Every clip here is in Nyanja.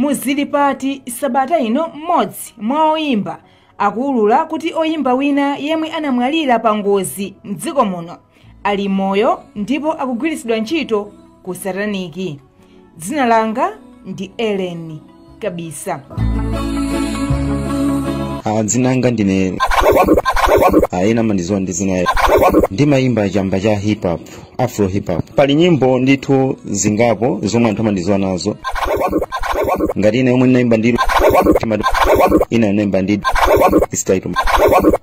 Mu Zilipati sabata ino M'modzi mwa oyimba akuulura kuti oyimba wina yemwe anamwalira pa ngozi mdziko muno ali moyo ndipo akugwiritsidwa ntchito ku sataniki. Dzina langa ndi Ellen Kabisa. Ah, dzina langa ndine ah, ena amandidziwa ndi dzina ndimayimba chamba cha hip hop afro hip hop pali nyimbo ndithu zingapo zomwe anthu amandidziwa nazo ngati ina yomwe ndinaimba ndi timati ina ndinaimba ndi istaito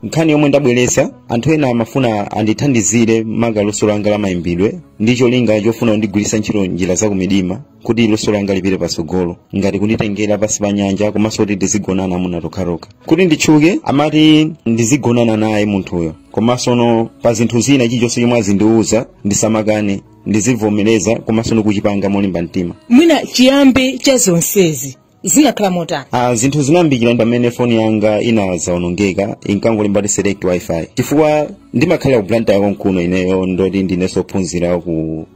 nkhani yomwe ndabweretsa anthu ena amafuna andithandizire maka luso langa la mayimbidwe ndi cholinga chofuna kundigwiritsa ntchito njira za kumidima kuti luso langa lipite patsogolo ngati kunditengera pansi pa nyanja komanso kuti ndizigonana amuna tokhatokha kuti nditchuke amati ndizigonana naye munthuyo komanso no pa zinthu zina chilichonse chomwe azindiwuza ndisamakane ndizivomereza komanso ndikuchipanga molimba mtima mwina chiyambi cha zonsezi zinakhala motani Ah, zinthu zinayambikira pamene foni yanga inazawonongeka inkangolemba kuti select wifi chifukwa ndimakhala ku Blantyre konkuno ineyo ndoti ndinenso ophunzira ku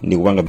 ndikupanga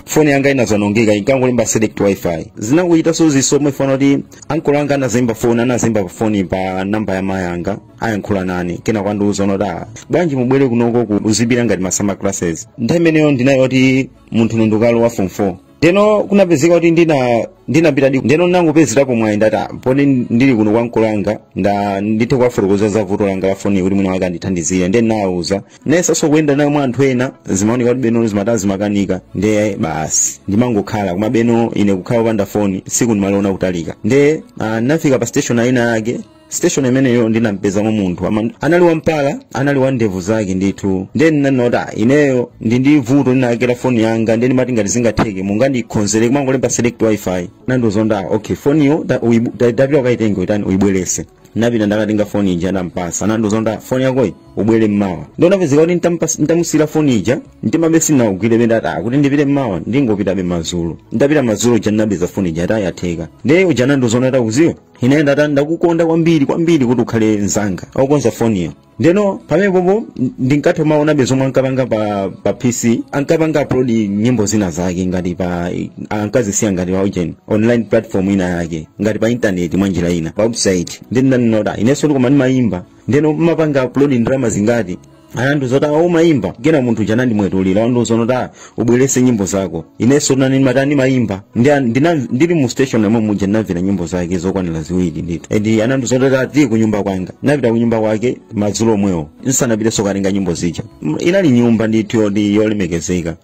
foni yanga inazawonongeka inkangolemba select wifi zinakuyitanso zisomwe fana kuti ankolo anga anazaimba foni anazaimba foni pa namba ya mayi anga ayankhula nane kenako andiuza kuti ah bwanji mubwere kunoko ku uzibira ngati ma summer classes nthawi imeneyo ndinali kuti munthu ndukalowa form 4 ndeno kunapezeka kuti ndina ndinapita di ndeno ndinangopezerapo mwayi ndati "Ah, poti ndili kuno kwa ankolo anga nda ndithe kuwafotokoza za vuto langa la foni kuti mwina mwake andithandizire ndiye ndinawauza nayesanso kuyenda nayo mwa anthu ena zimaoneka kuti beno zimatani zimakanika ndiye basi ndimangokhala koma beno ine kukhala opanda foni tsiku ndimaliona kutalika ndiye ah, ndinafika pa station ina yake station imeneyo ndinampezamo munthu ama- anali wampala anali wa ndevu zake ndithu nde ndinanena ineyo ndili ndi vuto ndinakera foni yanga nde ndimati ngati zingatheke mungandikonzere ikumangolemba select wifi anandiuza okay foniyo ta- uyibu- ta- tapita ukayitenge uyitani uyibwerese napita ndakatenga foni ija ndampasa anandiuza foni yakoyi ubwere mmawa nde kunapezeka kuti ntampas- ntamusiyira foni ija mtimabe sinawugwire penda ati akuti ndipite mmawa ndingopitabe madzulo ndapita madzulo uja ndinapeza foni ija ati yatheka nde uja anandiuza takuziwa ine ndata ndakukonda kwambiri kwambiri kuti ukhale mzanga akukonza foniyo ndeno pamenepopo ndinkatha kumaonabe zomwe ankapanga pa, pa pc ankapanga upload nyimbo zina zake ngati pa ankazisiya ngati pa ujeni online platform ina yake ngati pa intaneti mwa njira ina pa website nde ndinanena inenso ndikoma ndimayimba ndeno mmapanga upload ndalama zingati anandiuza oti awo umayimba kena munthu uja anandimwetulira anandiuza onoti a ubwerese nyimbo zako inenso nane matani mayimba Ndi- ndina- ndili mu station yomwe muja ndinamvera nyimbo zake zokwanira ziwiri ndithu and anandiuza onoti ati ku nyumba kwanga ndinapita ku nyumba kwake madzulo omwewo ndisanapitenso katenga nyimbo zija M- inali nyumba ndithu yoti yolemekezeka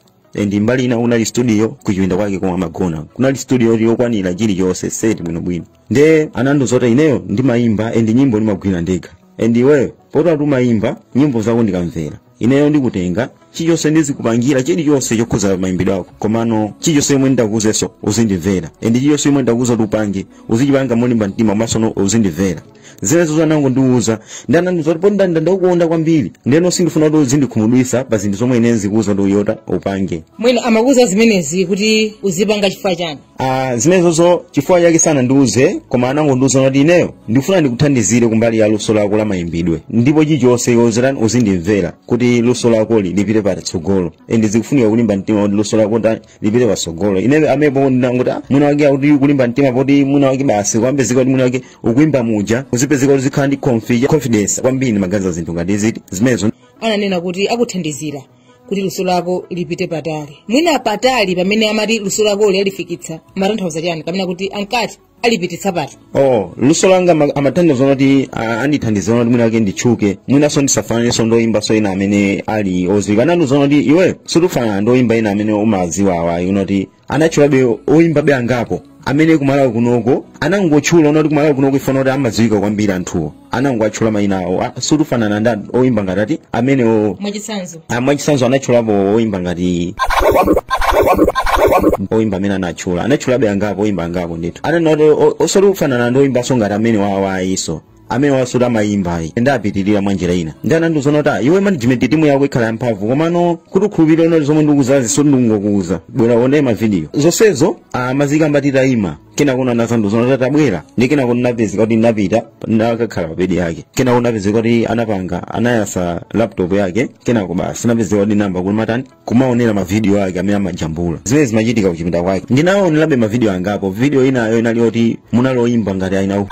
and mbali ina unali studio kuchipinda kwake komwe amagona kunali studio yokwanira chilichonse seti bwinobwino nde anandiuza kuti ineyo ndimayimba and nyimbo ndimagwira ndekha and iweyo poti wati umayimba nyimbo zako ndikamvera ineyo ndikutenga chilichonse ndizikupangira chilichonse chokhuza mayimbidwe ako komano chilichonse chomwe ndikuuzeso uzindimvera and chilichonse chomwe ndakuuza kuti upange uzichipanga molimba mtima komaso uzindimvera zimenezo anangondiuza ndi anandiuza kuti poti ndakukonda kwambiri ndeno sindifuna kuti uzindikhumudwisa pa zinthu zomwe ine zikuuza kuti iweyo upange mwina amakuza zimenezi kuti uzipanga chifukwa chani Ah, zimenezozo chifukwa chake sanandiuze koma anangondiuza kuti ineyo ndikufuna ndikuthandizire kumbali ya luso lako la mayimbidwe ndipo chilichonse yozerani uzindimvera kuti luso lako li- lipite patsogolo endi zikufunika kulimba mtima kuti luso lako ta- lipite patsogolo ineyo pamenepo ndinangoti "Ah, mwina mwake akuti kulimba mtima poti mwina mwake basi kumapezeka kuti mwina mwake ukuimba muja uzipezeka kuti uzikhala ndi confi- confidence kwambiri maganiza zinthu ngati ziti zimenezo ananena kuti akuthandizira kuti luso lako lipite patali mwina patali pamene amati luso lakoli alifikitsa amatanthauza chani kapena kuti ankati alipititsa pati oh luso langa ama- amatanthauza kuti ah, andithandiza kuti mwina mwake nditchuke mwinanso ndisafananenso ndi oyimbanso ena amene ali odziwika anandiuza kuti iwe soti ufanana ndi oyimba ena amene umadziwawa ayi unoti anatchulabe oyimbabe angapo amene ku Malawi kunoko anangotchula onati ku Malawi kunoko ifana kuti amadziwika kwambiri anthuwo anangowatchula mayina awo Ah, soti ufanana ndi oyimba ngati ati amenewo mwachitsanzo a mwachitsanzo anatchulapo oyimba ngati oyimba amene anatchula anatchulabe angapo oyimba angapo ndithu ananati osati kufanana ndi oyimbanso ngati amenewa ayiso amenewa soti amayimba ayi ndapitirira mwa njira ina ndi anandiuza kuti "Ah, iwe management timu yako ikhala yamphamvu komano kuti ukhulupirire unoti zomwe ndikuuzazi soti ndingokuuza bwera uone mavidiyo zonsezo amazikamba titayima kenakono anazandiuza kuti a tabwera ndi kenakono napezeka kuti ndinapita nakakhala pa bedi yake kenakono napezeka kuti anapanga anayasa laptop yake kenako basi napezeka kuti nayamba kumatani kumaonera mavidiyo ake amene amajambula zimene zimachitika kuchipinda kwake ndinaonerabe mavidiyo angapo vidiyo inayo inali yoti munali oyimba ngati aina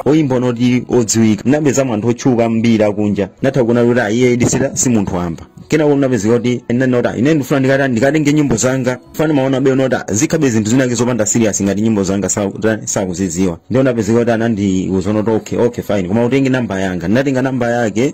oyimba onoti odziwika ndinapezamo anthu otchuka ambiri akunja natha kuona kuti ayiye idisira si munthu wamba kenako ndinapezeka kuti ndinanota ine ndifuna ndikata ndikatenge nyimbo zanga fana maonabe unoti zikhalabe zinthu zinake zopanda serious ngati nyimbo zanga sa- ta- sakuzidziwa ndiye ndapezeka kuti anandiuza unoti okay okay fine koma utenge namba yanga ndinatenga namba yake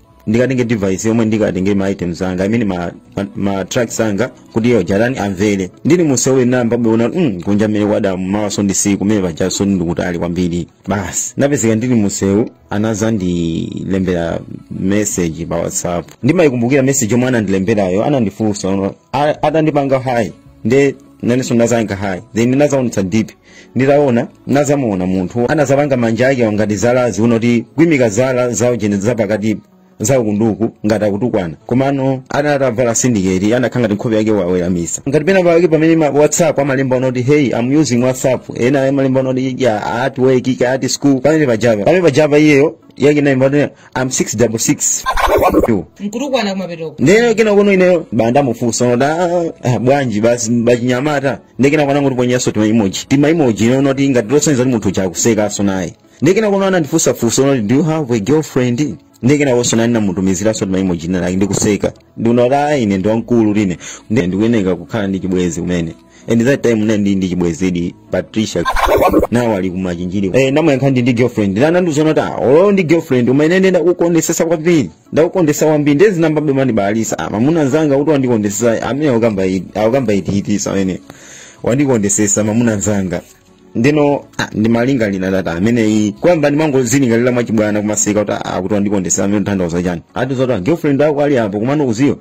ndikatenge device yomwe ndikatenge ma items anga amene ma, ma, ma tracks anga kuti iyo jatani amvere ndili musewu ndinayamba kuona mm, kunja mmene kwada mawaso ndi tsiku mmene pajaso ndikutali kwambiri basi napezeka ndili musewu anazandilembera message pa whatsapp ndimayikumbukira message yomwe anandilemberayo anandifunsa unoti, "A- atandipanga hi nde nanenso ndazapanga hi then ndinazaonetsa dp nditaona nazamuona munthu anazapanga manja ake ngati zalazi unoti kuimika zala zawo zijene zapakati za uku ndi uku ngati akutukwana komano anali atavala syndicate anakhala ngati nkhope yake waweramisa ngati pena pake pamene pa whatsapp amalemba unoti hey i'm using whatsapp ena amalemba unoti ya at work ika at school pamene pajava pamene pajava iyeyo yake anaikapo unoti i'm 666 nkutukwana kumapetoko ndeno kenakono ineyo basi ndamufunsa unoti "Ah, ah, bwanji basi bachinyamata nde kenako anangotiponyaso tima emoji tima emoji unoti ngati losonyeza kuti munthu uja akusekaso naye nde kenako anandifunsa funso unati do you have a girlfriend nde kenakonso nane namutumiziranso tima emoji tinatake ndikuseka ndikuona kuti ayi ine ndi wamkulu ine Ndi- ndikuyeneka kukhala ndi chibwezi kumene and that time ndinali ndi ndi chibwezidi patricia nawo ali kumachinjiri eh ndamuyankha ndi ndi girlfriend nde anandiuza unoti ah olo ndi girlfriend koma ineyo ndakukondesesa kwambiri ndakukondesa kwambiri nde zinayambabe kumandibalalisa ah, mamuna nzanga kuti wandikondesa amene akukamba ziti- akukamba ziti amene wandikondesesa mamuna nzanga ndino ah, ndimalingalira that time ineyo poyamba ndimangozilingalira mwachibwana kumaseka kuti ah, kuti wandikondesa amene akutanthauza chani ati zoti ah, girlfriend ako ali apo komano udziwe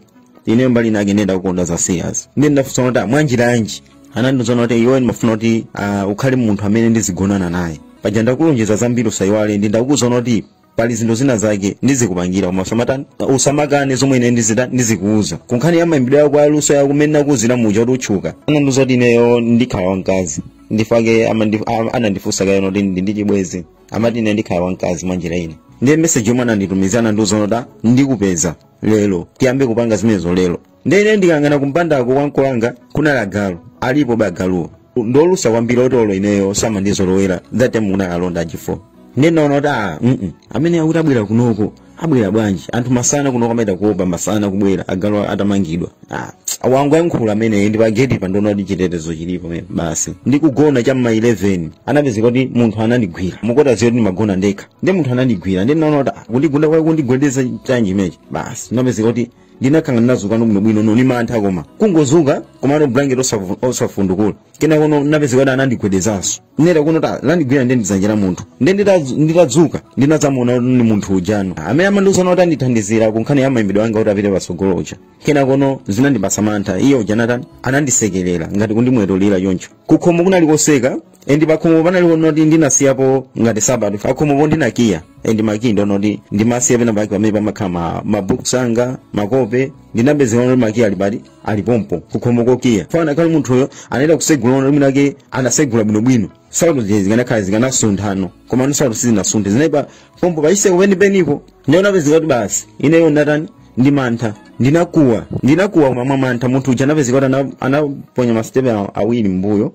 ine mbali inayake ndakukonda za serious nde ndafunsa kuti ah, mwanjira yanji anandiuza unoti iwe ndimafuna kuti ah, ukhale munthu amene ndizigonana naye paja ndakulonjeza zambiri usayiwale nde ndakuuza unoti pali zinthu zina zake ndizikupangira koma usamatani usamakane zomwe ine ndizita- ndizikuuza kunkhani ya mayimbidwe yako ya luso yako mmene nakuuzira muja kuti utchuka anandiuza kuti ineyo ndikhala wamkazi ndi chifukwa chake amandi- a- anandifunsa kaye kuti ndili ndi chibwezi amati ine ndikhala wamkazi mwa njira ina ndiye meseji yomwe ananditumizira anandiuza kuti ndikupeza lero tiyambe kupanga zimenezo lero ndiye ine ndikaangana kumpandako kwa ankolo wanga kunali agalu alipobe agaluwo ndolusa kwambiri oti olo ineyo samandizolowera that time kunali alonda ache four ndiye ndaona kuti a mm amene akuti abwera kunoko abwera bwanji anthu masana kunoko amaita kuopa masana kubwera agalu atamangidwa ah akungoyankhula ameneyu ndi pageti paja ndinaona kuti chitetezo chilipo me- basi ndikugona cha mma 11 anapezeka kuti munthu anandigwira mukudziwa kuti ndimagona ndekha nde munthu anandigwira nde ndinaona kuti ah, kundigunda kwake kundigwedeza chani chimenechi basi ndinapezeka kuti ndinakhala ngati ndinazukano bwinobwino nono ndi mantha koma kungozuka komano blanket osavu- osafundukula kenakono napezeka kuti anandigwedezanso ndeno lakuno dzanja landigwira nde ndi zanja la munthu nde nditazu- nditadzuka ndinadzamuona kuti ndi munthu ujano amene amandiuza unoti andithandizira kunkhani ya mayimbidwe anga kuti apite patsogolo uja kenakono zinandipasa mantha iye uja anatani anandisekerera ngati kundimwetulira choncho kukhomo kunali kotseka endi pakhomo panalipo noti ndinasiyapo ngati sabata pakhomopo ndinakiya endi makiyi ndo noti ndimasiya pena pake pamene pamakhala ma- mabooks anga makope ndinapezeka noti makiyi ali pati ali pompo kukhomo kokiya fana kali munthuyo anaenda kusegula noti mwinake anasegula bwinobwino sauti zija zikanakhala zikanasunthano koma ndi sauti sizinasunthe zinali pompo pachitseko penipenipo ndiye napezeka kuti basi ineyo ndatani ndi mantha ndinakuwa ndinakuwa koma mwa mantha munthu uja anapezeka kuti ana- anaponya masitepe aw- awiri mbuyo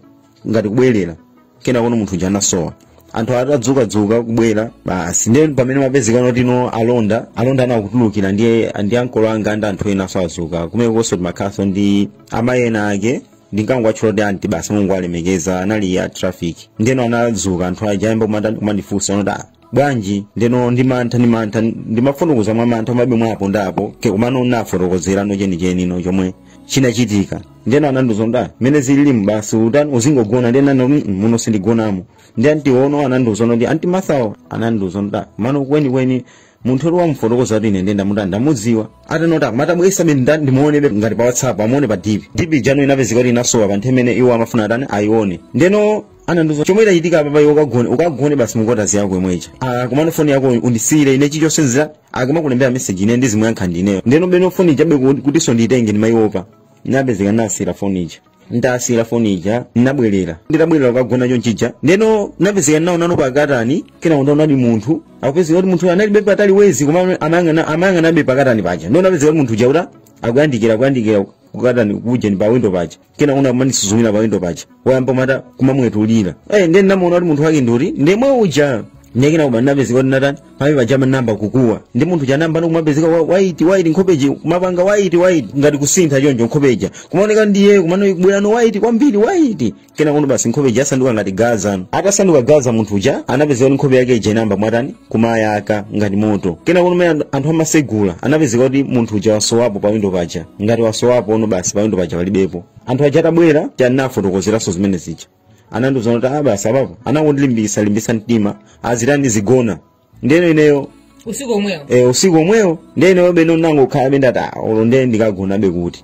ngati kubwerera kenako no munthu uja anasowa anthu atadzukadzuka kubwera basi ndiye pamene mapezekano tino alonda alonda nawo akutulukira ndiye ndi ankolo anga ndi anthu enanso azuka kumenekonso timakhalanso ndi amayi ena ake ndinkangowatchula kuti anti basi mulungu alemekeza anali a traffic ndeno anazuka anthu aja ayamba kumata- kumandifunsa anati "Ah, bwanji ndeno ndi mantha ndi mantha ndimafotokoza mwa mantha mabe mwapo ndapo ke kumano nafotokozerano chenicheni no chomwe chinachitika ndeno anandiuza kuti mmene zililimu basi utani uzingogona ndeno anati "Mm, muno sindigonamo ndi anti ono anandiuza kuti anti mathawo anandiuza kuti mano kwenikweni munthu oti wamufotokoza kuti ine ndenda muti ndamudziwa atanota matabwesa bene ndani ndimuonebe ngati pa whatsapp amuone pa dp dp ija no inapezeka kuti inasowa pa nthawi imene iwo amafuna atani ayione ndeno anandiuza chomwe chachitika apa iwe ukagone ukagone basi mungotazi yako imwecha ah komano foni yako undisiyire ine chichonse nzira akamakulembera message ine ndizimuyankha ndineyo ndeno beno foni ijabe kuti- kutinso ndiyitenge ndimayiwopa napezeka nasiyira foni ija ndasiyira foni ija nabwerera nditabwerera kukagona chonchija ndeno napezeka nawonano pakatani kenako ndaona ndi munthu akupezeka kuti munthu analibe patali wezi koma amayang'ana amayang'anabe pakatani paja ndeno napezeka kuti munthu uja uta akuyandikira akuyandikira kukatani kuja ndi pa window paja kenako no kumanisuzumira pawindo paja wayamba mata kumamwetulira eh ndiye ndinamuona kuti munthu wake nduri ndi yemwe uja ndiye kena kuba ndinapezeka kuti natani pawi paja manamba kukuwa ndi munthu uja anamba ndikumapezeka wa- waiti waiti nkhope ija kumapanga waiti waiti ngati kusintha choncho nkhope ija kumaoneka ndiye kumano bwerano waiti kwambiri waiti kenako no basi nkhope ija yasanduka ngati gaza atasanduka gaza munthu uja anapezeka kuti nkhope yake ija inamba kumatani kumayaka ngati moto kenako no mmene anthu amasegula anapezeka kuti munthu uja wasowapo pa windo paja ngati wasowapo ono basi pa windo paja palibepo anthu aja atabwera tinafotokozeranso zimene zija anandiuza kuti ah basi apapo anangondilimbisa limbisa mtima azitani ndizigona ndeno ineyo usiku omwewo e, usiku omwewo ndeno beno nangokhalabe ndati "Ah, olo nde ndikagonabe kuti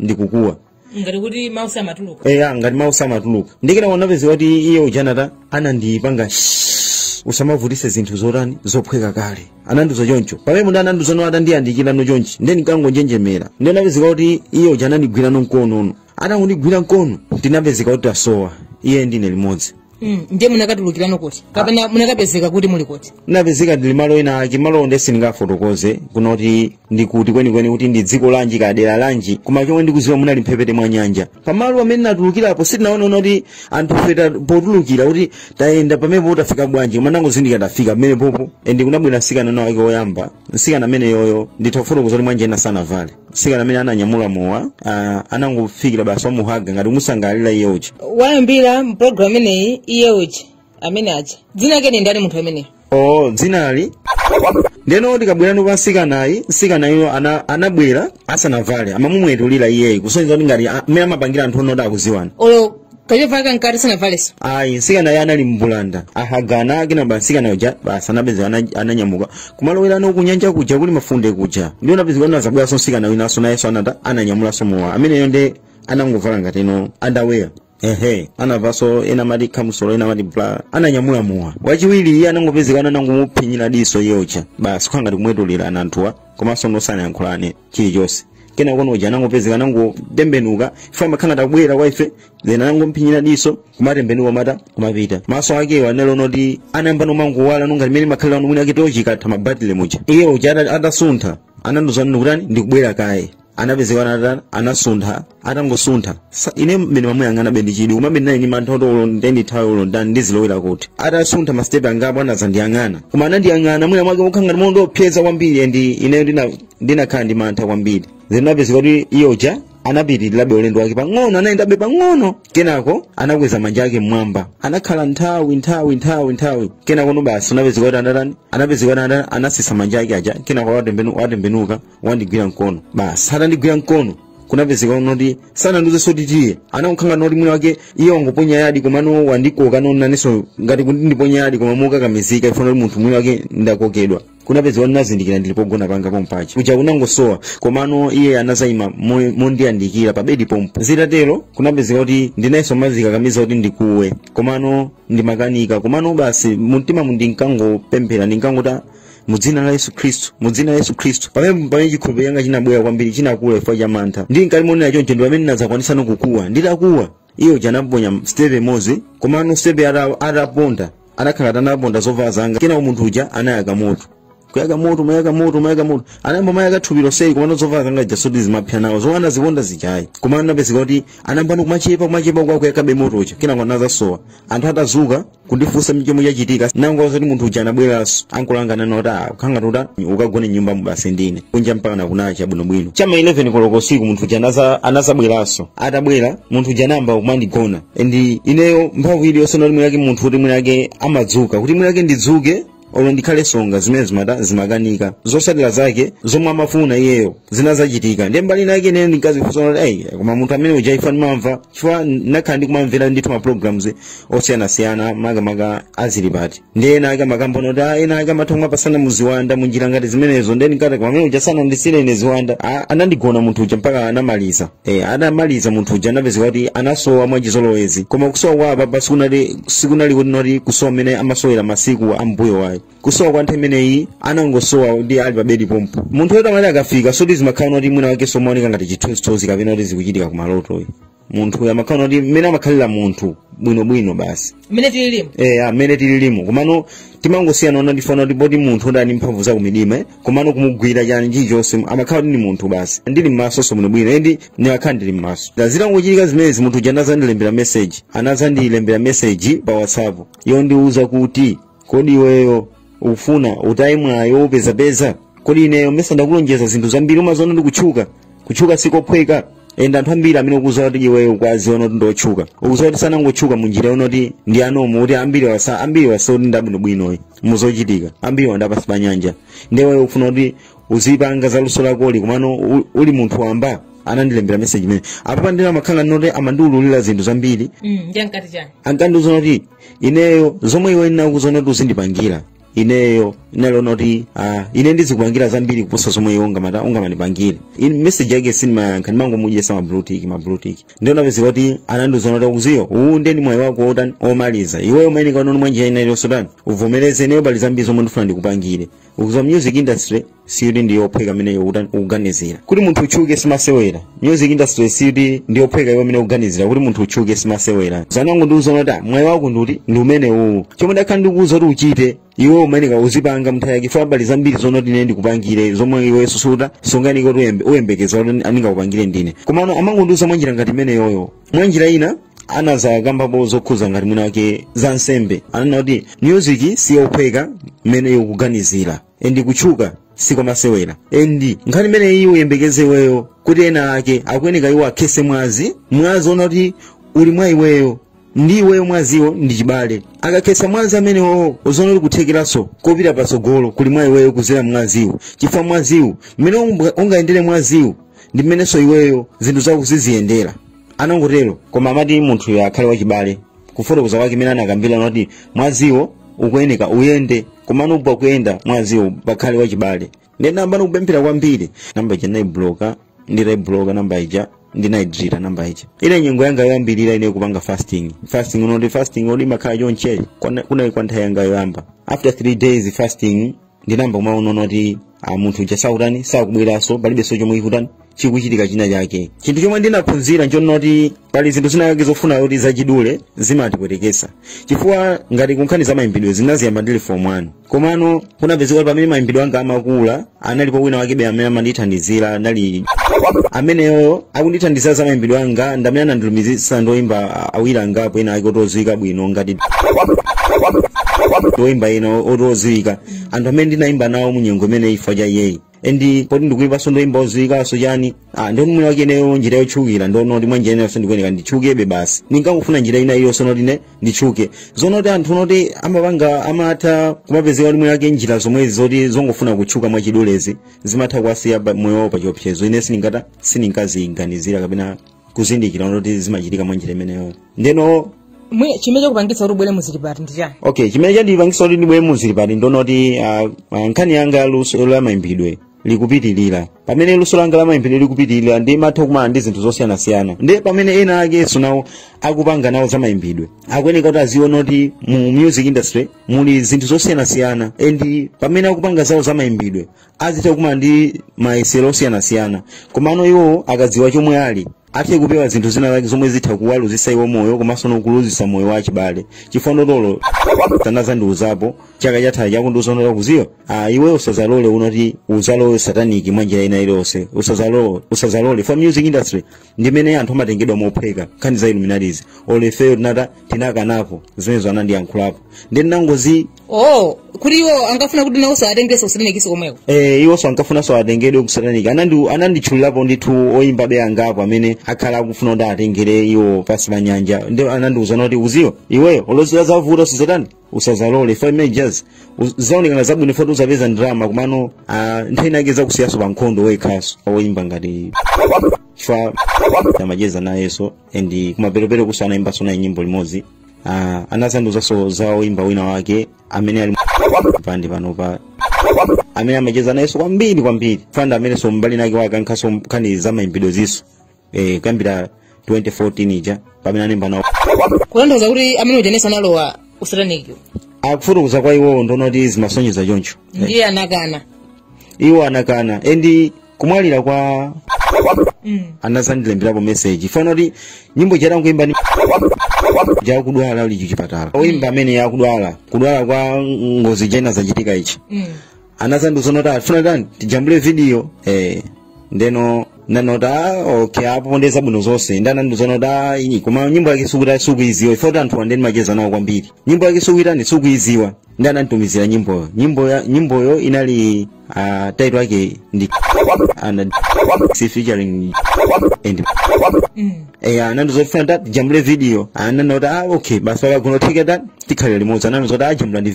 ndikukuwa ngati kuti mau samatuluka eya ngati mau samatuluka ndiye kena kunapezeka kuti iye uja anata anandipanga shhh, usamavutise zinthu zotani zophweka kale anandiuza choncho pamene munthu anandiuza no atandiyandikirano chonchi ndiye ndikangonjenjemera ndiye napezeka kuti iye uja anandigwirano mkono no atangondigwira mkono ndinapezeka kuti tasowa iye ndine limodzi Mm, ndiye munakatulukirano kuti kapena munakapezeka kuti muli kuti napezeka ndili malo ena ake malo onde sindingafotokoze kunena kuti ndi kuti kwenikweni kuti ndi dziko lanji kadera lanji koma chomwe ndikuziwa munali mphepete mwa nyanja pamalo pamene natulukirapo sitinaona kuti anthu feta potulukira kuti tayenda pamenepo tafika bwanji koma ndangozindikira tafika pamenepopo endi kunabwera msikana winawake woyamba msikana ameneyoyo nditha kufotokoza kuti mwanjira ina sanavale mtsikana amene ananyamula mowa ah, anangofikira basi wamuhaga ngati kumusangalalira iye uja wayambira m'pulogalamu imeneyi iye uja amene aja dzina lake ndi ndani munthu ameneyo oo dzinali ndiyeno tikabwerano kwa msikanayu msikanayo ana, anabwera asanavale amamumwetulira iyeyi kusonyeza kuti ngati a- mmene amapangira anthu onoti akudziwana olo kachovala kankati sinavaleso ayi nsikanayo anali mbulanda ahagana kenaka nsikana uja basi anapezeka ana- ananyamuka kumalowera ano kunyanja kuja kuli mafunde kuja ndiye anapezeka ano azabweranso nsikana winanso nayenso anata ananyamulanso mowa ameneyo nde anangovala ngati ino underwear ehe anavaso ena amati kamisolo ena amati bra ananyamula mowa wachiwiri iye anangopezeka ano anangomutsinzinira diso iye uja basi kukhala ngati kumwetulira anthuwa komanso no sanayankhulane chilichonse kenako no uja anangopezeka anangotembenuka iye amakhala atabwera kwa ife then anangompinyira diso kumatembenuka kumatani kumapita maso akewo anali kuti anayamba no kumangowala no ngati mmene makhalira ano mwina mwake tochi ikatha mabatile muja iye uja ata- atasuntha anandiuza nini kutani ndikubwera kaye anapezeka anatani anasuntha atangosuntha Sa- ine mmene ndimamuyang'ana ndinali ndi chidwi koma be ndinali ndi mantha kuti olo nde ndithawe olo nditani ndizilowera kuti atasuntha masitepe angapo anazandiyang'ana koma anandiyang'ana mwina mwake mokhala ngati mondiopsyeza kwambiri endi ineyo ndina ndinakhala ndi mantha kwambiri then zinapezeka kuti iye uja anapitirirabe ulendo wake pang'ono anayendabe pang'ono kenako anakweza manja ake mmwamba anakhala nthawi nthawi nthawi nthawi kenako no basi anapezeka kuti anatani anapezeka kuti anatani anatsitsa manja ake aja kenako watembenu- watembenuka wandigwira mkono basi atandigwira mkono kunapezeka kunoti sanandiuzeso kuti tiye anangokhala noti mwina mwake iye wangoponya yadi komano wandikoka no inenso ngati kuti ndiponya yadi koma mokakamizika chifukwa choti munthu mwina mwake ndakokedwa kunapezeka kuti nazindikira ndili pogona panga pompaja kuja kunangosowa komano iye anazayima mo- mondiyandikira pa bedi pompo zitatero kunapezeka kuti ndinayetsa kumazikakamiza kuti ndikuwe komano ndimakanika komano basi mumtima mu ndinkangopemphera ndinkangoti mu dzina la yesu khristu mu dzina la yesu khristu pamene pamene chikhulupiriro changa chinabwera kwambiri chinakula chifukwa cha mantha ndili mkati moonera choncho ndi pamene ndinadzakwanisa no kukuwa nditakuwa iye uja anaponya sitepe imodzi komano sitepe ata- ataponda anakhala kuti anaponda zovala zanga kenako munthu uja anayaka moto kuyaka moto mayaka moto mayaka moto anayamba mayaka thupi lonseli komano zovala zanga zija soti zimapsa nawo zomwe anaziponda zijazi komano anapezeka kuti anayambano kumachepa kumachepa kwinaku akuyakabe moto uja kenako anazasowa anthu atazuka kundifunsa chomwe chachitika nangoza kuti munthu uja anabweranso ankulangana noti ah kukhanga tuta ukagone m'nyumbamu basi ndine kunja mpakana kunacha bwinobwino chama 11 koloko usiku munthu uja anaza- anazabweranso atabwera munthu uja anayamba kumandigona ndi ineyo mphamvu iliyonse noti mwinake munthu kuti mwinake amadzuka kuti mwinake ndidzuke olo ndikhale tsonga zimene zimata zimakanika zosatira zake zomwe amafuna iyeyo zinazachitika ndiye mbali inayake ine ndinkazifunsa kuti ayi koma munthu amene uja ifa ndimamva chifukwa ndinakhala ndikumamvera ndithu ma programs osiyanasiyana makamaka a Zilipati ndiye ena ake amakamba kuti ah, ena ake amatha kumapasana mu ziwanda mu njira ngati zimenezo ndiye ndinkati koma amene uja sanandisiyire ine ziwanda Ah, anandigona munthu uja mpaka anamaliza E, adamaliza munthu uja anapezeka kuti anasowa mwachizolowezi koma kusowa kwa apapa sikunali sikunali kuti noti kusowa mmene amasowera masiku ambuyowa ayi kusowa kwa nthawi imeneyi anangosowa ndi ali pa bedi pompo munthu woti amati akafika soti zimakhala noti mwinamwake somaoneka ngati chithunzithunzi kapena kuti zikuchitika kumaloto ayi munthu uyu amakhala noti mmene amakhalira munthu bwinobwino basi mmene tililimu eya mmene tililimu komano timangosiyana ona ndifana kuti poti munthu ali ndi mphamvu zakumidima eh? komano kumugwira chani chilichonse amakhala kuti ndi munthu basi ndili mmasonso bwinobwino endi ndimakhala ndili mmaso zitangochitika zimenezi munthu uja anazandilembera meseji anazandilembera meseji pa whatsapp yondiwuza kuti kodi iweyo ufuna utaye mwayi wopezapeza kodi ineyo mesa ndakulonjeza zinthu zambiri umaziona ndi kutchuka kutchuka sikophweka endi anthu ambiri amene ukuziwa kuti iweyo ukuwaziwa kuti ndiotchuka ukuziwa kuti sanangotchuka munjira yonoti ndi ya normal kuti ambiriwa sa- ambiriwa sikuti ndi abwinobwino ayi muzochitika ambiriwa ndi apansi pa nyanja nde iwe ufuna kuti uzipanga za luso lakoli komano u- uli munthu wamba anandilembera meseji imene apapa nde amakhala noti amandiululira zinthu zambiri Mm, nde ankati chani ankandiuza kuti ineyo zomwe iwe ndinakuuza kuti uzindipangira ineyo ndinaliona kuti ah, ine ndizikupangira zambiri kuposa zomwe iwe ungamata ungamandipangire In- message yake sindimayankha ndimangomudyesa ma blue tick ma blue tick ndiye anapezeka kuti anandiuza kuti ukuziwa uwu ndiye ndi mwayi wako wotani omaliza iweyo umayeneka unoni mwanjira ina iliyonse utani uvomereze ineyo pali zambiri zomwe ndifuna ndikupangire ukuziwa music industry sikuti ndi yophweka mmene ukutani ukuganizira kuti munthu utchuke simasewera music industry sikuti ndi yophweka iwe mmene ukuganizira kuti munthu utchuke simasewera anangondiuza kuti mwayi wako ndi uti ndi umene uwu chomwe ndakhala ndikuuza kuti uchite iwe umayeneka uzipanga mnthawi yake fa pali zambiri zonoti ine ndikupangire zomwe iwe susuta songaniko uyembekeza kuti ndingakupangire ndine komano amangondiuza mwanjira ngati imeneyoyo mwanjira ina anazakambapo zokhuza ngati mwinamwake za nsembe ananena kuti music siyophweka mmene ukuganizira endi kutchuka sikwamasewera endi nkhani imeneyi uyembekeze iweyo kuti ena ake akuyeneka iwo akhese mwazi mwazi ona kuti uli mwa iweyo ndi iweyo mwaziwo ndi chibale akakhetsa mwazi amenewowo uzona kuti kuthekeranso kopita patsogolo kuli mwa iweyo kuzera mwaziwu chifukwa mwaziwu mmene unga- ungayendere mwaziwu ndi mmenenso iweyo zinthu zako ziziyendera anangotero koma amati munthuyo akhale wachibale kufotokoza kwake mmene anakambira noti mwaziwo ukuyeneka uyende komano pa kuyenda mwaziwo pakhale wachibale ndinayamba kupemphera kwambiri namba ija ndinayibloka nditayibloka namba ija ndinayidilita namba ija ine nyengo yanga yoyambirira ine kupanga fasting fasting unoti fasting oti imakhala chonchi Kwana- kunali kwa nthawi yanga yoyamba after three days fasting ndinayamba kumaona kuti munthu uja sakutani sakubweranso palibenso chomwe ikutani chikuchitika china chake chinthu chomwe ndinaphunzira nchonoti pali zinthu zinakake zofuna kuti zachidule zimatipwetekesa chifukwa ngati kunkhani za mayimbidwe ndinaziyamba ndili form 1 komano kunapezeka kuti pamene mayimbidwe anga amakula analipo wina wakebe amene amandithandizira anali ameneyo akundithandizira za mayimbidwe anga ndamene anandilumizisa ndoyimba awiri angapo ena ake oti odziwika bwino ngati ndoyimba ena oti odziwika anthu amene ndinayimba nawo munyengo imene ifa cha iyeyo endi poti ndikuimbaso ndoimba oziwikaso chani ah ndiye noti mwina wake ineyo njira yotchukira ndonoti mwanjira inayonso ndikuyeneka nditchukebe basi ndinkangofuna njira ina iliyonse noti ine nditchuke zonoti anthu noti amapanga amatha kumapezeka kuti mwina wake njira zomwezi zoti zongofuna kutchuka mwachidulezi zimatha kuwasiya pa- moyo wawo pachiopsezo ine sindingata sindinkaziganizira kapena kuzindikira noti zimachitika mwa njira imeneyo ndeno Mwe- chimene chakupangitsa kuti ubwere muzilipati ndi chani okay chimene chandipangitsa kuti ndibwere muzilipati ndonoti ah, ah, nkhani yanga luso la mayimbidwe likupitirira pamene luso langa la mayimbidwe likupitirira ndimatha kumana ndi zinthu zosiyanasiyana ndi pamene ena akenso nawo akupanga nawo za mayimbidwe akuyeneka kuti aziona kuti mu music industry muli zinthu zosiyanasiyana and pamene akupanga zawo za mayimbidwe azitha kumana ndi mayesero osiyanasiyana komano iwo akadziwa chomwe ali athe kupewa zinthu zina zake zomwe zitha kuwaluzisa iwo moyo komanso nokuluzisa moyo wa chibale chifukwa ndotolo anazandiuzapo chaka chatha akundiuza noti udziwa ah, iwe usazalole unoti uzalowe sataniki mwa njira ina iliyonse usazalole usazalole chifukwa music industry ndimene anthu amatengedwa mophweka nkhani za illuminatizi olefeyo tinata tinakanapo zimenezo anandiyankhulapo nde ndinangoti oh kuti iwo ankafuna kuti nawo saatengese kusataniki komweko eh, iwonso ankafunanso atengedwe kusataniki Anandi- ananditchulirapo ndithu oyimbabe angapo amene akhala akufuna kuti atengere iwo pasi pa nyanja ndi anandiuzano kuti uziwa iweyo olo zizavuta usazatani usazalole chifukwa zimeneju Uz- zizaoneka zabwino chifukwa choti uzapeza ndalama komano ah, nthawi inayake zizakusiyaso pa nkhondo wekhaso oyimba ngati chifukwa amacheza nayeso and kumaperopero kuso anayimbaso naye nyimbo limodzi Ah, anazandiuzaso za oyimba wina wake amene ali pandi panopa amene amacheza nayeso kwambiri kwambiri chifukwa nda amenenso mbali inayake wake nkhaniso nkhani za mayimbidwe ziso eh, kuyambira 2014 ija pamene analemba nawo kutanthauza kuti amene uja nesa analowa usatanikiwu akufotokoza kwa iwowo ndi zona kuti zimasonyeza choncho ndiye anakana iwo anakana endi kumwalira kwa Mm. anazandilemberapo meseji chifana kuti nyimbo ija tangoimba ndi ija yakudwala uli chichipatala oimba amene akudwala kudwala kwa ngozi kenako zachitika ichi Mm. anazandiuza noti akufuna titani tijambule vidiyo eh, ndeno ndinanota okay apo ndeza bwino zonse ndi anandiuza noti "Ah, iyi koma nyimbo yake sukuita sukuiziwa ife kuti anthu andeni macheza nawo kwambiri nyimbo yake sukuitani sukuiziwa ndi ananditumizira nyimboyo nyimbo ya- nyimboyo inali uh, title yake ndi and si featuring and eya anandi zofuna ta tijambule video anani kuti ah okay basi kukanatheka ta tikhalira limodzi anani zoti ajambula ndi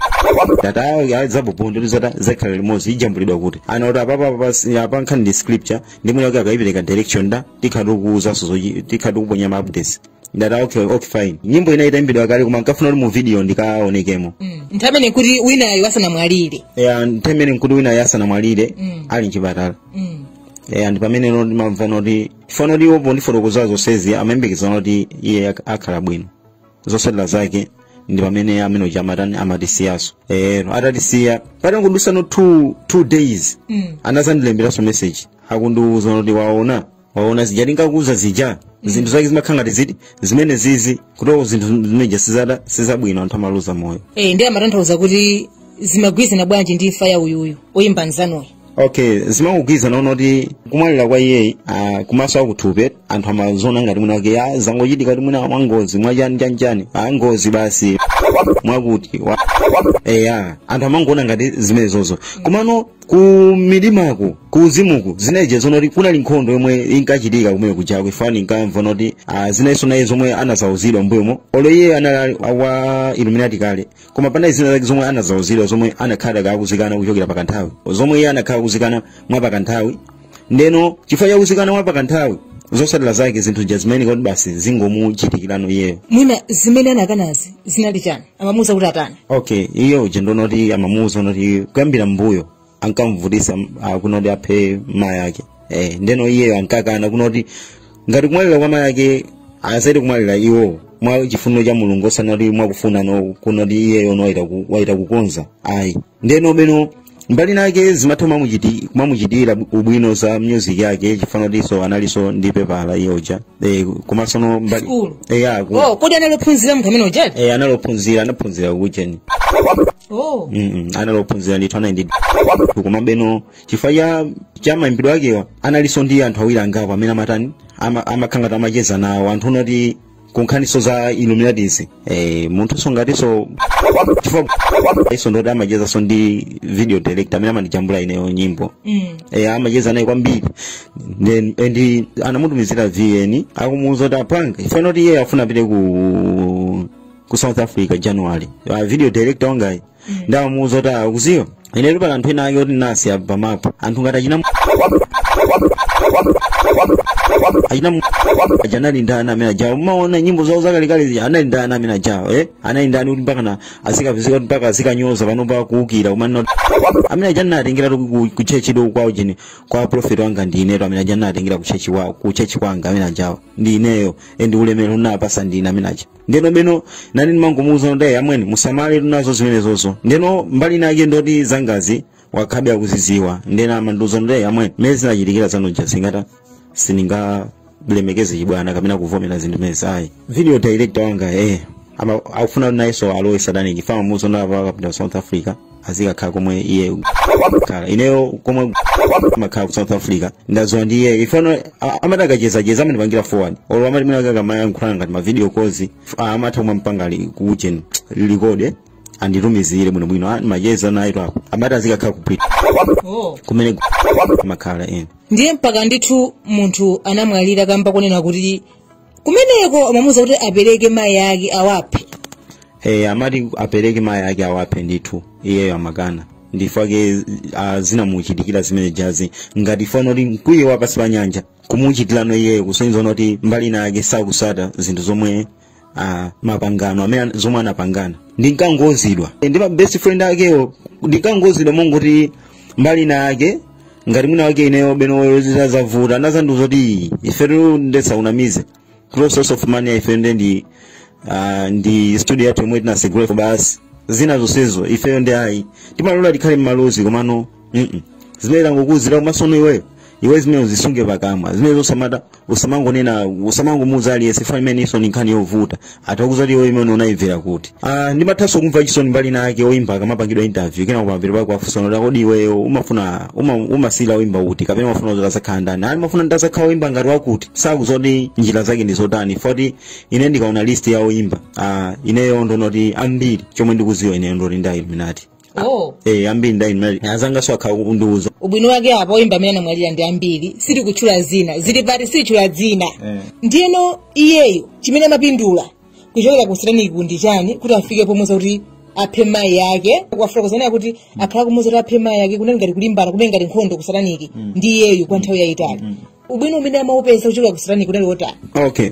tata ayo zabubundo ndizota zakhalira limodzi ijambulidwa kuti ana kuti apapa apa- apa nkhani ndi scripture ndi mwina kuti akayipereka direction ta tikhati kukuuzanso zochi- tikhati kuponya ma updates ndata okay okay fine nyimbo ina itaimbidwa kale koma nkafuna kuti mu video ndikaonekemo nthawi imene kuti winayo asanamwalire eya nthawi imene nkuti winayo asanamwalire ali mchipatala eya ndi pamene no ndimamva noti fano iwo pondifotokozera zonsezi amayembekeza kuti iye ak- akhala bwino zotsatira zake ndi pamene amene uja amatani amatisiyaso eyo atatisiya patangodusano two, two days Mm. anazandilemberanso message akundiuza kuti waona waona zija ndinkakuuza zija zinthu zake zimakhala ngati ziti zimene zizi kutoko zinthu zimeja sizada sizabwino anthu amaluza moyo Eh, ndiye amatanthauza kuti zimagwirizana bwanji ndi imfa ya uyuyu oyimba nzanuyo okay zimagwirizana kunena kuti kumwalira kwa iyeyi ah, kumaso akuthupi anthu amaziona ngati mwina wake ah, zangochitika kuti mwina mwangozi mwachani chanchani ah, ngozi basi mwakuti wa- eya anthu amangoona ngati zimenezozo komano ku midimako ku uzimuku zineje zona kuti kunali nkhondo yomwe inkachitika kumene kuja ko ifeyo inkamva noti ah, zinaliso naye zomwe anazauzidwa mbuyomo olo iye anali wa illuminati kale koma panali zina zake zomwe anazauzidwa zomwe anakhala akuzikana kuchokera pakanthawi zomwe iye anakhala akuzikana mwa pakanthawi ndeno chifukwa chakuzikana mwa pakanthawi zotsatira zake zinthu zija zimene kuti basi zingomuchitikirano iyeyo mwina zimene anakanazi zinali chani amamuuza kuti atani okay iye uja ndonoti amamuuza noti kuyambira mbuyo ankamvutisa ah, kunena kuti aphe mayi ake eh, ndeno iyeyo ankakana kunena kuti ngati kumwalira kwa mayi ake osati kumwalira iwo mwa chifuniro cha mulungu osati kuti mwakufuna no kunena kuti iyeyo no waita ku- waita kukonza ayi ndeno penano mbali inayake zimatha kumamuchiti- kumamuchitira ubwino za music yake chifano tiso analiso ndi pepala iye uja eh, komanso no mbali School. eh, ya, ku- oh kodi anali ophunzira munthu amene ujayi eh, analophunzira anaphunzira kucheni oh Mm-mm. anali ophunzira ndithu anali ndi koma beno chifukwa cha cha mayimbidwe akewa analinso ndi anthu awiri angapo amene amatani ama- amakhala ngati amacheza nawo anthu unati kunkhaninso za Illuminati eh, munthunso ngatinso chifukwa iyenso ndoti amachezanso ndi video director amene amandijambula ineyo nyimbo mm. eh, amacheza naye kwambiri Then- and anamutumizira vn akumuuza kuti apanga ifano kuti iye afuna apite ku ku south africa january uh, video director wanga ndamuuza kuti ah, ukuziwa inetu pali anthu ena ake kuti nasi apa pamapo anthu ngati achina achina aja anali ndani amene ajawo mumaona nyimbo zawo zakalekale zija anali ndani amene ajawo eh anali ndani kuti mpaka na azikapezeka kuti mpaka azikanyoza panopa kuukira kumanena kuti amene aja anatengera tu ku- ku chechi do kwa ujeni kwa prophet wanga ndi inetu amene aja anatengera ku chechi wa ku chechi kwanga amene ajawo ndi ineyo endi ulemero unapatsa ndine amene aja ndeno beno nani ndimangomuuza kuti amwene musamaletu nazo zimenezozo ndeno mbali inake ndoti zangazi wakhala be akuziziwa ndeno amandiuza kuti amwene mmene zinachitikira zanu zija singati sindingalemekeze chibwana kapena kuvomera zinthu zimenezi ayi video director wanga eh ama akufuna kuti nayenso alowe satanic ifa mamuuza ndapa akapita south africa azikakhala komwe ndiye khala ineyo komwe ndimakhala ku south africa ndaziwa ndiye ifano amati akachezacheza amandipangira forward olo amati mwina akamayankhulana ngati mavideo calls ah, amatha kumampanga ali ku ujeni record anditumizire bwinobwino Ah, amacheza nayetu apo amati azikakhala kupita oh. kumene ndimakhala ine ndiye mpaka ndithu munthu anamwalira kamba konena kuti kumeneko amamuuza kuti apereke mayi ake awaphe eh, amati apereke mayi ake awaphe ndithu iyeyo amakana ndichifukwa chake uh, zinamuchitikira zimene zijazi ngati fano kuti mkwiyo wa pansi pa nyanja kumuchitirano iyeyo kusonyeza kuti mbali ina yake sakutsata zinthu zomwe uh, mapangano amene zomwe anapangana ndinkangouzidwa ndi ma best friend akewo ndinkangouzidwa mongoti mbali ina yake ngati mwina wake ineyo benoyo zitazavuta anazandiuza kuti ifetu nde tisakunamize source of money ifeyo nde ndi ah, ndi studio yathu yomwe tinatsegula basi zina zonsezo ifeyo ndi ayi timalola tikhale mmalozi komano mm zimene tangokuuzira komatsono iweyo iwe zimenezi uzisunge pakamwa zimenezo usamata usamangonena usamangomuuza aliyense fani imene ijanso nkhani yovuta atakuuza iwe imene unayimvera kuti ah ndimathanso kumva chisoni mbali nake oyimba akamapangidwa interview kena ukamvera pako afunsano kuti kodi iweyo umafuna uma, umasilira oyimba kuti kapena umafuna kuti uzakhale ndani ali ndimafuna kuti ndizakhale oyimba ngati wakuti sakudziwa kuti njira zake ndi zotani foti ine ndikaona list ya oyimba ah ineyo ndonoti ambiri chomwe ndikuziwa ineyo ndoti ndi a Illuminati oh eh ambiri ndi Illuminati azanga so ukhala ukundiuza ubwino wake apa oyimba amene anamwalira ndi ambiri sili kutchula zina zili pati silichula dzina Eh. ndiyeno iyeyo chimene amapindula kuchokera kusataniki ndi chani kuti afike pomuza kuti aphe mayi yake ukufuna kudzanena kuti akhala kumuza kuti aphe mayi yake kunali ngati kulimbana kumene ngati nkhondo kusataniki ndi iyeyo kwa nthawi yayitali ubwino umene amaupeza kuchokera kusataniki unali wotani okay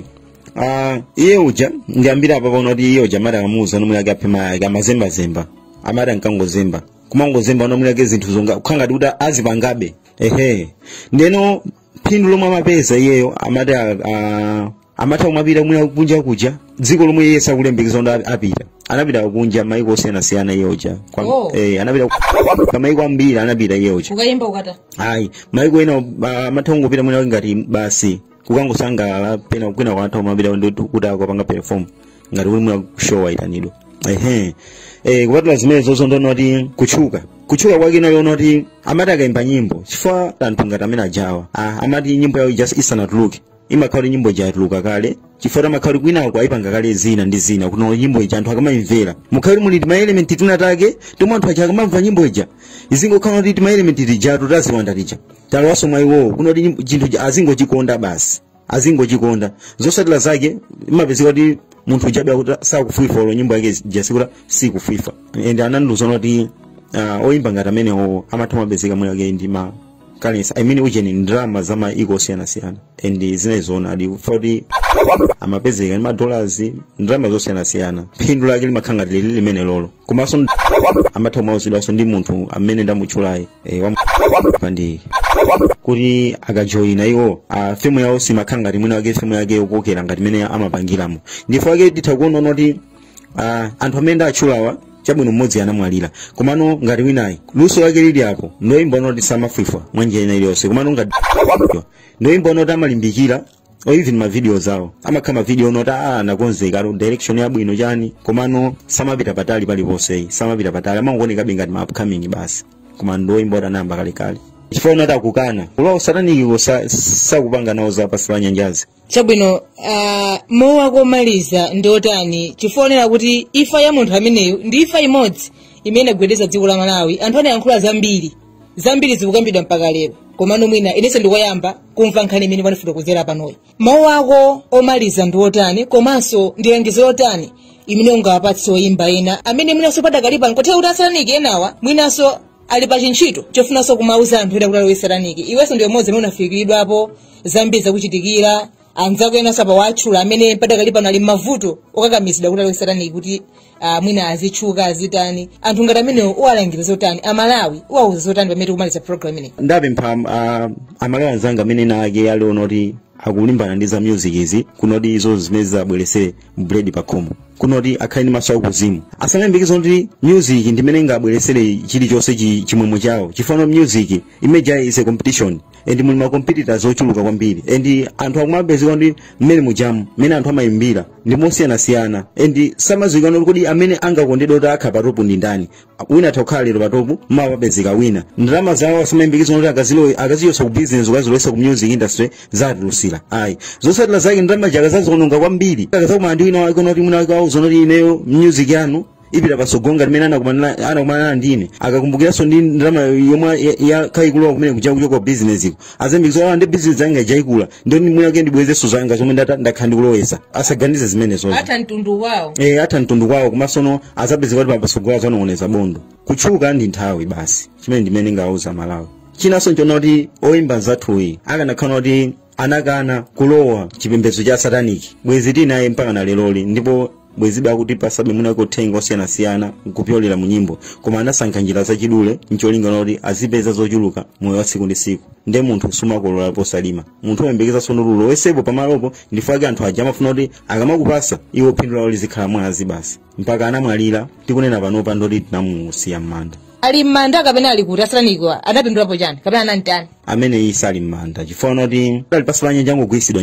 Ah, iye uja ndiyambira apa paona kuti iye uja amati akamuuza zonena kuti aphe mayi ake amazembazemba amati ankangozemba kumangozemba zonena kuti zinthu zonga kukhala ngati kuti azipangabe ehe ndeno phindu lomwe amapeza iyeyo amati a- a- amatha kumapita mwinawake kunja kuja dziko lomwe iye sakulembekeza kuti ap- apita anapita kunja maiko osiyanasiyana iye uja Kwa- Oh. eh, anapita ku- kwa maiko ambiri anapita iye uja kukayimba kukatani maiko ena ah, amatha kungopita mwina ngati basi kukangosangalala pena kwina amatha kumapita ndi kuti akapanga perform ngati kuti mwina show ayitanidwa ehe eh, kupatula zimenezo ndi zonoti kutchuka kutchuka kwake nako kunali kuti amati akayimba nyimbo chifukwa anthu ngati amene ajawa ah, amati nyimbo yawo just isanatuluke imakhala kuti nyimbo ija yatuluka kale chifukwa amakhala kuti kwinako ayipanga kale zina ndi zina kuno nyimbo ija anthu akamayimvera mumakhala kuti muli timaelementi tina take tomwe anthu aja akamamva nyimbo ija izingokhala kuti timaelementi tijatu taziwanda tija talowaso mwa iwowo kuno kuti nyimbo- chinthu ija azingochikonda basi azingochikonda zosatira zake imapezeka kuti munthu ujabe akuti sakufwifwa olo nyimbo yake ija sikuti sikufwifwa and anandiuzanso kuti ah, oyimba ngati amenewo amatha kumapezeka mwinawake ndi ma currency i mean ujeni ndalama za maiko osiyanasiyana and zinayi zoonadi poti amapezeka ndi madollars ndalama zosiyanasiyana phindu lake limakhala ngati lili limenelolo komanso amatha kumauzidwanso ndi munthu amene ndamutchulayi eh, wa bandiyi kuti akajoyina iwo a femu yawo simakhala ngati mwina wake femu yake yokokera ngati mmene amapangiramo ndichifukwa chake titha kuona kuti Ah, anthu amene ndatchulawa chabwino mmodzi anamwalira komano ngati winayi luso lake lili apo ndoyimba onoti samafwifwa mwa njira ina iliyonse komano ngati ndoyimba onoti amalimbikira or even ma videos awo amakhala ma video onoti ah anakonzeka ali ndi direction yabwino chani komano samapita patali paliponse samapita patali amangoonekabe ngati ma upcoming basi koma ndoyimba oti anayamba kalekale chifukwa chonoti akukana kulowa usataniki sakupanga nawo za pansi pa nyanjazi chabwino uh, mawu ako omaliza ndi otani chifukwa tikuonera kuti ifa ya munthu ameneyo ndi ifa imodzi imene inagwedeza dziko la malawi anthu anayankhula zambiri zambiri zikukambidwa mpaka lero komano mwina inenso ndikoyamba kumva nkhani imene wandifotokozera panoyi mawu ako omaliza ndi otani komanso ndi langizo lotani imene ungawapatse oyimba ena amene mwinanso padakali pano nkutheka kuti asataniki enawa mwinanso ali pa chintchito chofunanso kumauza anthu ena kuti alowe sataniki iwenso ndiwe mmodzi amene unafikiridwapo zambiri zakuchitikira anzako enanso apa watchula amene padakali pano ali mmavuto okakamizidwa kuti alowe sataniki kuti ah, mwina azitchuka azitani anthu ngati amenewo uwalangiza zotani amalawi uwauza zotani pamene tikumaliza program inoyi ndapempha uh, amalawi anzanga amene ena ake aliona kuti akulimbana ndi za music izi kunoti izo zimene zizabwerese bread pa khomo kunoti akhale ndi maso akuzimu asamayembekeze kuti music ndi imene ingabweresere chilichonse chi- chimwemwe chawo chifukwa music imene ija is a competition and muli macompetitors ochuluka kwambiri and anthu akumapezeka ndi mmene mujamu mmene anthu amayimbira ndi mosiyanasiyana and samadziwika kuti amene angakondedwa kuti akhale patopu ndi ndani wina atha kukhala lero patopu mawa papezeka wina ndalama zawo asamayembekezera kuti akazilowe akazichotsa ku business nkukazilowesa ku music industry zatulusira ayi zotsatira zake ndalama zake akazaziwononga kwambiri akazakumana ndi wina wake unoti mwina wake awauza kuti ineyo music yanu ipita pasogolo ngati mmene anakumana anakumana ndi ine akakumbukiranso ndi ndalama yomwe ya- ya- yakhala ikulowa kumene kuja kuchoka ku business iko azayembekeza noti bizinesi yanga ija ikula ndiye ndi mwinake ndibwezeso zanga zomwe ndata- ndakhala ndikulowesa asaganize zimenezozo atha mtundu wawo eh atha mtundu kwawo komansono azapezeka kuti papasogolo azanong'oneza bondo kutchuka ndi nthawi basi chimene ndimene ndingawauze amalawi chinanso nchonena kuti oyimba mzathuyi akanakhala kuti anakana kulowa chipembedzo cha sataniki bwezi tili naye mpaka na leroli ndipo bwezibe akutipasabe mwinake uthenga osiyanasiyana kupyolera mu nyimbo koma anasankha njira zachidule ncholinga noti azipeza zochuluka moyo wa tsiku ndi tsiku nde munthu sumakolola posalima munthu oyembekeza zonoti ulowesepo pamalopo nchifukwa chake anthu aja amafuna kuti akamakupasa iwo phindu lawo lizikhala mwazi basi mpaka anamwalira tikunena panopa ndoti tinamusiya m'manda ali m'manda kapena ali kuti asataniko anapindulapo chani kapena anamtani amene iye sali m'manda chifukwa noti ali pasi pa nyanja angogwirisidwa